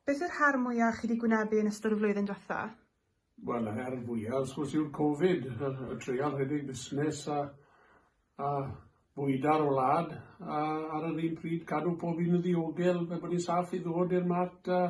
Beth yw'r her mwya' chi 'di gwynebu yn ystod y flwyddyn dwetha? Wel y her fwya' wrth gwrs yw'r Covid, y treial rhedeg busnes a a bwyda'r wlad a ar yr un pryd cadw pob un yn ddiogel fel bod ni'n saff i ddod i'r marc a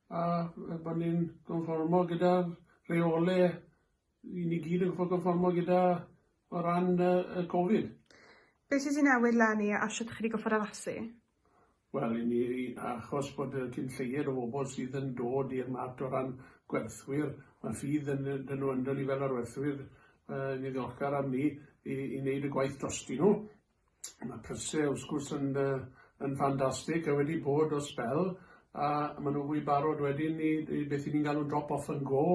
a fel bod ni'n gonfformo gyda'r rheole i ni gyd yn gorffod gonfformo gyda o ran yy y Covid. Be' sy' 'di newid 'leni a shwt chi 'di gorffod addasu? Wel, i ni, achos bod y cyn lleied o bobl sydd yn dod i'r mat o ran gwerthwyr, mae ffydd yn, dyn nhw ynddo ni fel arwerthwyr, uh, ni ddiolchgar am ni, i, i wneud y gwaith drosti nhw. Mae prysau, wrth gwrs, yn, uh, yn ffantastig, a wedi bod o spel, a maen nhw fwy barod wedyn i, i beth i ni'n galw'n drop off and go,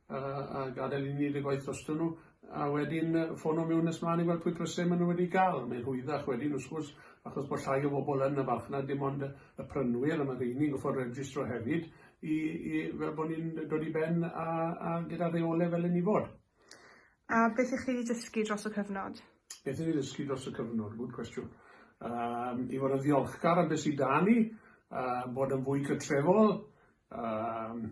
a a gadael i ni neud y gwaith drosto nhw a wedyn yy ffono miwn nes mlan i weld pwy pryse ma' nhw wedi ga'l mae'n rhwyddach wedyn wrth gwrs achos bo llai o bobol yn y farchnad dim ond yy y prynwyr a ma rheini'n goffod registro hefyd i i fel bo ni'n yy dod i ben a a gyda reole fel 'yn ni fod. A beth y'ch chi 'di dysgu dros y cyfnod? Beth i ni ddysgu dros y cyfnod? Good question. Yym i fod yn ddiolchgar am be sy 'da ni, yy bod yn fwy cytrefol, yym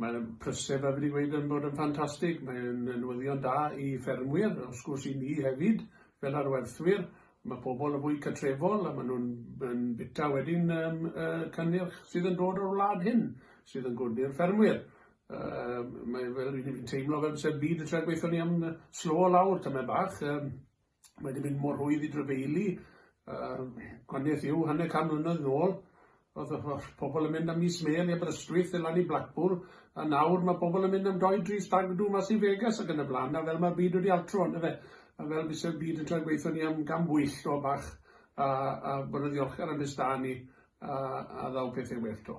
Mae e'n prysur fel fi 'di gweud yn bod yn ffantastig, mae e'n yy newyddion da i ffermwyr, wrth gwrs i ni hefyd fel arwerthwyr, ma' pobol yn fwy cartrefol a ma' nw'n yn bita wedyn yym y cynnyrch sydd yn dod o'r wlad hyn, sydd yn good i'r ffermwyr. Yym mae fel fi'n teimlo fel byse'r byd yn trio gweitho ni am yy slo lawr tamed bach yym. Mae wedi mynd mor rwydd i drefeili. Yr gwaniaeth yw, hanner can mlynedd yn ôl, oedd y pobl yn mynd am mis mêl i Aberystwyth, lan i Blackpool, a nawr mae pobl yn mynd am doi, dri stag do mas i Vegas ac yn y blaen, a fel mae'r byd wedi altro, on'd yfe? A fel byse'r byd yn troi gweithio ni am gam bwyll o bach, a, a bod yn ddiolchgar am beth 'da ni, a, a ddaw pethau well to.